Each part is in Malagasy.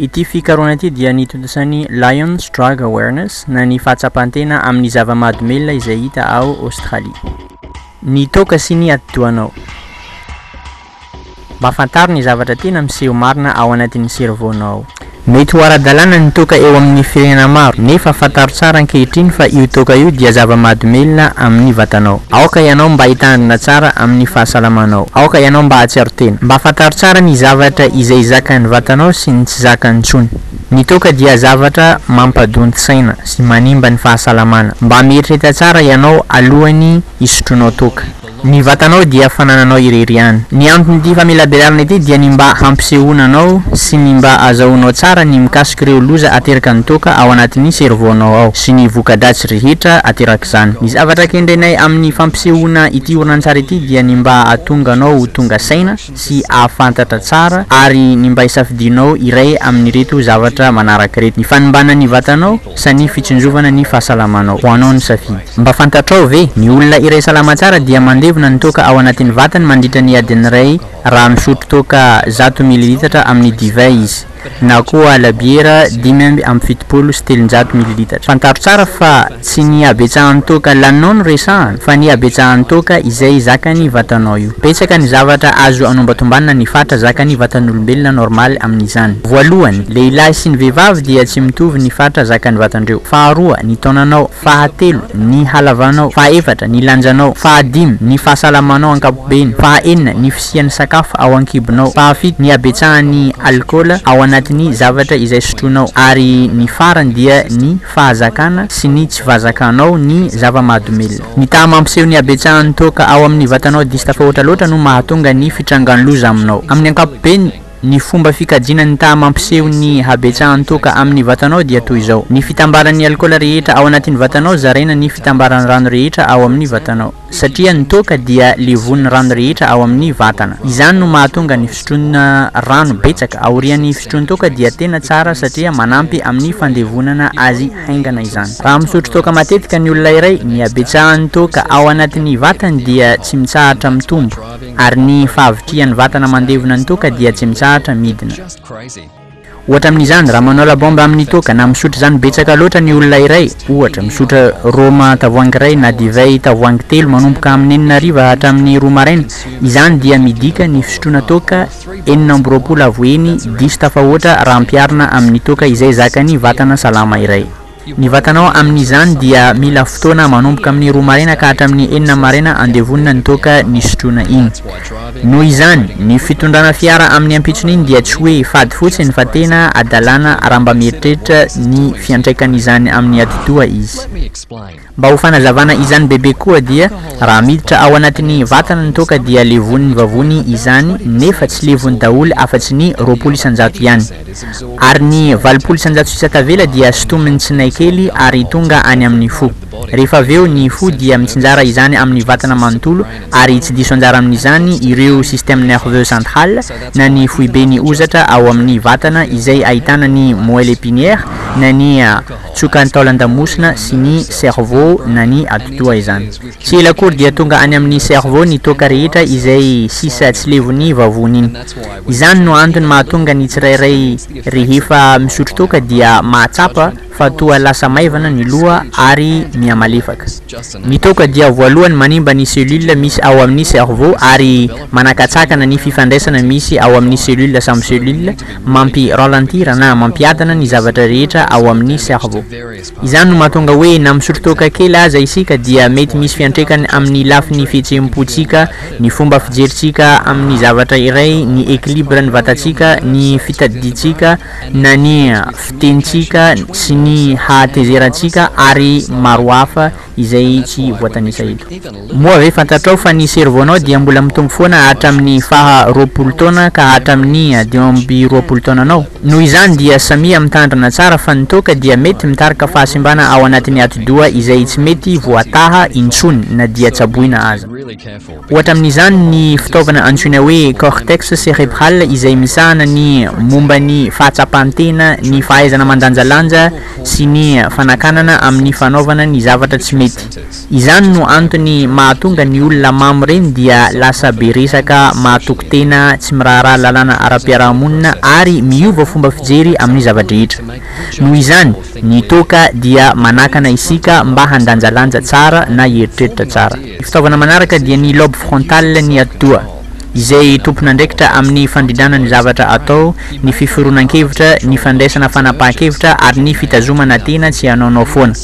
Ity fikarohana ity dia nitontosan'ny Lions Drug Awareness na ny fahatsapan-tena amin'ny zava-mahadomelina izay hita ao Aostralia. Ny toaka sy ny atidohanao. Mba fantaro ny zavatra tena miseho marina ao anatin'ny servaonao. Mety ho ara-dalàna ny toaka eo amin'ny firenena maro, nefa fantaro tsara ankehitriny fa io toaka io dia zava-mahadomelina amin'ny vatanao. Aoka ianao mba hitandrina tsara amin'ny fahasalamanao. Aoka ianao mba hahatsiaro tena. Mba fantaro tsara ny zavatra izay zakan'ny vatanao sy ny tsy zakany intsony. Ny toaka dia zavatra mampadonti-saina sy manimba ny fahasalamana. Mba mieritrereta tsara ianao alohan'ny hisotroanao toaka. Ny vatanao dia fanananao irery ihany. Ny anton'ity famelabelarana ity dia ny mba hampisehoana anao sy ny mba azahoanao tsara ny mikasika ireo loza ateraka ny toaka ao anatin'ny servaonao ao sy ny voka-dratsy rehetra aterak'izany. Ny zavatra kendrenay amin'ny fampisehoana ity horonantsary ity dia ny mba hahatonga anao ho tonga saina, sy hahafantatra tsara ary ny mba hisafidianao iray amin'ireto zavatra manaraka ireto, ny fanimbana ny vatanao sa ny fitsinjovana ny fahasalamanao? Ho anao ny safidy. Mba fantatrao ve? Ny olona iray salama tsara dia mandevona ny toaka ao anatin'ny vatany mandritra ny adiny iray raha misotro toaka zato mililitatra amin'ny divay izy. na koa labiera dimy amby amby fitopolo sy telonjato mililitatra. Fantaro tsara fa tsy ny habetsahan'ny toaka laninao no resahana fa ny habetsahan'ny toaka izay zakan'ny vatanao io. Betsaka ny zavatra azo anombatombanina ny fatra zakan'ny vatan'olombelona normal amin'izany. Voalohany, lehilahy sy ny vehivavy dia tsy mitovy ny fatra zakan'ny vatandreo. Faharoa, ny taonanao. Fahatelo, ny halavanao. Fahaefatra, ny lanjanao. Fahadimy, ny fahasalamanao ankapobeny. Fahaenina, ny. sy ny sakafo ao an-kibonao. Fahafito, ny habetsahan'ny alikaola ao anatin'ny zavatra izay sotroinao. Ary ny farany dia ny fahazakana sy ny tsy vazakanao ny zava-mahadomelina. Ny taha mampiseho ny habetsahan'ny toaka ao amin'ny vatanao diso tafahoatra loatra no mahatonga ny fitrangan'ny loza aminao. Amin'ny ankapobeny, ny fomba fikajiana ny taha mampiseho ny habetsahan'ny toaka amin'ny vatanao dia toy izao, Ny fitambaran'ny alikaola rehetra ao anatin'ny vatanao zaraina ny fitambaran'ny rano rehetra ao amin'ny vatanao. satria ny toaka dia levon'ny rano rehetra ao amin'ny vatana, izany no mahatonga ny fisotroana rano betsaka aorian'ny fisotroan-toaka dia tena tsara satria manampy amin'ny fandevonana azy haingana izany. Raha misotro toaka matetika ny olona iray, ny habetsahan'ny toaka ao anatin'ny vatany dia tsy mitsahatra mitombo, ary ny fahavitrihan'ny vatana mandevona ny toaka dia tsy mitsahatra midina. Ohatra amin'izany, raha manao labomba amin'ny toaka na misotro izany betsaka loatra ny olona iray, ohatra, misotro rhoma tavoahangy iray na divay tavoahangy telo manomboka amin'ny enina hariva hatramin'ny roa maraina, izany dia midika ny fisotroana toaka enina amby roapolo avo heny diso tafahoatra raha ampiharina amin'ny toaka izay zakan'ny vatana salama iray. Ny vatanao amin'izany dia mila fotoana manomboka amin'ny roa maraina ka hatramin'ny enina maraina andevonina ny toaka nisotroana iny. Noho izany, ny fitondrana fiara amin'ny ampitson'iny dia tsy hoe fady fotsiny fa tena adalana raha mba mieritreritra ny fiantraikan'izany amin'ny atidoha izy. Mba ho fanazavana izany bebe koa dia raha miditra ao anatin'ny vatana ny toaka dia levon'ny vavony izany nefa tsy levony daholo afa-tsy ny roapolo isan-jato ihany. Ary ny valopolo isan-jato sisa tavela dia sintomin'ny tsinay kely ary tonga any amin'ny fo. Rehefa avy eo ny fo dia mitsinjara izany amin'ny vatana manontolo ary tsy diso anjara amin'izany ireo système nerveux central na ny foibe ny hozatra ao amin'ny vatana izay ahitana ny moelle épinière na ny tsiokan'ny taolan-damosina sy ny cerveau na ny atidoha izany. Tsy ela akory dia tonga any amin'ny cerveau ny toaka rehetra izay sisa tsy levon'ny vavony iny. Izany no antony mahatonga ny tsirairay rehefa misotro toaka dia mahatsapa fa toa lasa maivana ny loha ary mihamalefaka. Ny toaka dia voalohany manimba ny cellule misy ao amin' ny cerveau ary manakatsakana ny fifandraisana misy ao amin' ny cellule samy cellule, mampi ralentir na mampiadana ny zavatra rehetra ao amin' ny cerveau. Izany no mahatonga hoe na misotro toaka kely aza isika dia mety misy fiantraikany amin' ny lafin' ny fihetseham-pontsika, ny fomba fijerintsika amin' ny zavatra iray, ny equilibre ny vatantsika, ny fitadidiantsika, na ny fitenintsika sy ny hatezerantsika ary maro hafa izay tsy voatanisa eto. Moa ve fantatrao fa ny servonao dia mbola mitombo foana hatramin'ny faha roapolo taona ka hatramin'ny dimy amby roapolo taonanao? Noho izany dia samia mitandrina tsara fa ny toaka dia mety mitarika fahasimbana ao anatin'ny atidoha izay tsy mety voataha intsony na dia tsaboina aza. Ohatra amin'izany ny fitaovana antsoina hoe cortex cérébral izay misahana ny momba ny fahatsapan-tena, ny fahaizana mandanjalanja sy ny fanakanana amin'ny fanaovana ny zavatra tsy mety. Izany no antony mahatonga ny olona mamo reny dia lasa be resaka, mahatoky tena, tsy miraharaha lalàna ara-piarahamonina ary miova fomba fijery amin'ny zava-drehetra. Noho izany, ny toaka dia manakana isika mba handanjalanja tsara na hieritreritra tsara. Ny fitaovana manaraka dia ny lobe frontal ny atidoha, izay tompon'andraikitra amin'ny fandrindrana ny zavatra atao, ny fiforonan-kevitra, ny fandraisana fanapahan-kevitra ary ny fitazomana tena tsy hanaonao foana.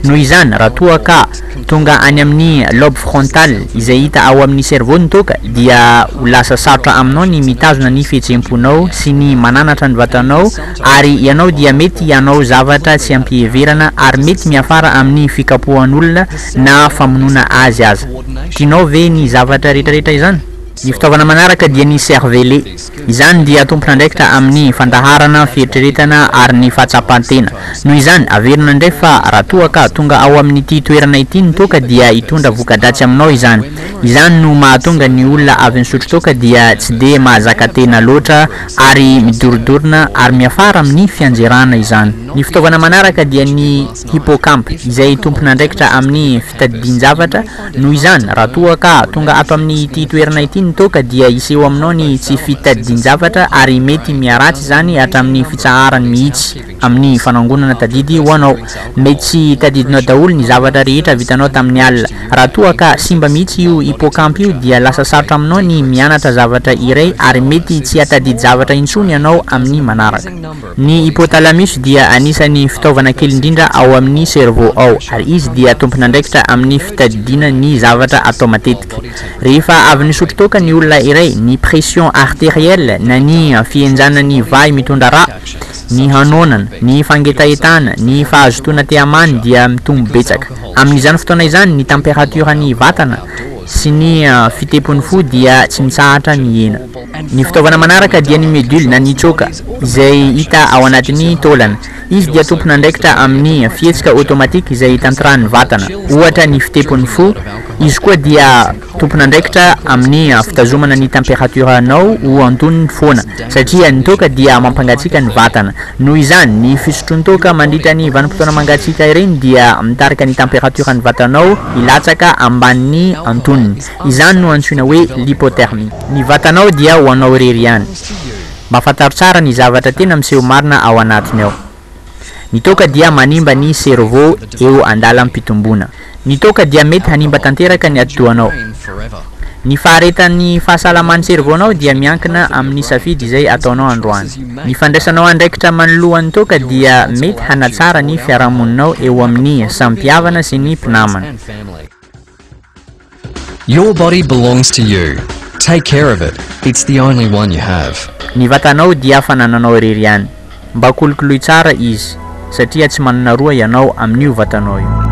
Noho izany, raha toa ka tonga any amin'ny lobe frontal izay hita ao amin'ny cerveau ny toaka, dia ho lasa sarotra aminao ny mitazona ny fihetseham-ponao sy ny mananatra ny vatanao ary ianao dia mety hanao zavatra tsy am-piheverana ary mety miafara amin'ny fikapohan'olona na famonoana azy aza. Tianao ve ny zavatra rehetrarehetra izany? Ny fitaovana manaraka dia ny cervelle. Izany dia tompon'andraikitra amin'ny fandaharana, fieritreretana ary ny fahatsapan-tena. Noho izany, averina indray fa raha toa ka tonga ao amin'ity toerana ity ny toaka dia hitondra voka-dratsy aminao izany. Izany no mahatonga ny olona avy nisotro toaka dia tsy dia mahazaka tena loatra ary midorodorona ary miafara amin'ny fianjerana izany. Ny fitaovana manaraka dia ny. Hippocamp, izay tompon'andraikitra amin'ny fitadidian-javatra, noho izany, raha toa ka tonga ato amin'ity toerana ity ny toaka dia hiseho aminao ny tsy fitadidian-javatra ary mety miharatsy izany hatramin'ny fitsaharany mihitsy amin'ny fanangonana tadidy ho anao. Mety tsy tadidinao daholo ny zavatra rehetra vitanao tamin'ny alina. Raha toa ka simba mihitsy io hippocamp io dia lasa sarotra aminao ny mianatra zavatra iray ary mety tsy hahatadidy zavatra intsony ianao amin'ny manaraka. Ny hypothalamus dia anisan'ny fitaovana kely indrindra ao amin'ny cerveau ao, ary izy dia tompon'andraikitra amin'ny fitadidiana ny zavatra atao matetika. Rehefa avy nisotro toaka ny olona iray, ny pression arterielle na ny fihenjana ny vahy mitondra rà, ny hanoanana, ny fangetahetahana, ny fahazotoana tehamany dia mitombo betsaka. Amin'izany fotoana izany, ny tamperatioran'ny vatana sy ny fitempon'ny fo dia tsy mitsahatra mihena. Ny fitaovana manaraka dia ny medule na ny choka izay hita ao anatin'ny taolana. Izy dia tompon'andraikitra amin'ny fihetsika automatique izay tanterahan'ny vatana, ohatra ny fitepon'ny fo. Izy koa dia tompon'andraikitra amin'ny fitazomana ny température-nao ho antonony foana satria ny toaka dia mampangatsiaka ny vatana. Noho izany, ny fisotroan-toaka mandritra ny vanim-potoana mangatsiaka ireny dia mitarika ny température-n'ny vatanao hilatsaka ambanin'ny antonony. Izany no antsoina hoe lipothermie. Ny vatanao dia ho anao irery ihany. Mba fantaro tsara ny zavatra tena miseho marina ao anatiny ao. Ny toaka dia manimba ny cerveau eo andalam-pitomboana. Ny toaka dia mety hanimba tanteraka ny atidohanao. Ny faharetan'ny fahasalaman'ny cerveau-nao dia miankina amin'ny safidy izay ataonao androany. Ny fandraisanao andraikitra manoloa ny toaka dia mety hanatsara ny fiarahamoninao eo amin'ny samy mpihavana sy ny mpinamana. Your body belongs to you, take care of it, it's the only one you have. Ny vatanao dia fanananao irery ihany, mba kolokoloy tsara izy satria tsy manana roa ianao amin'io vatanao io.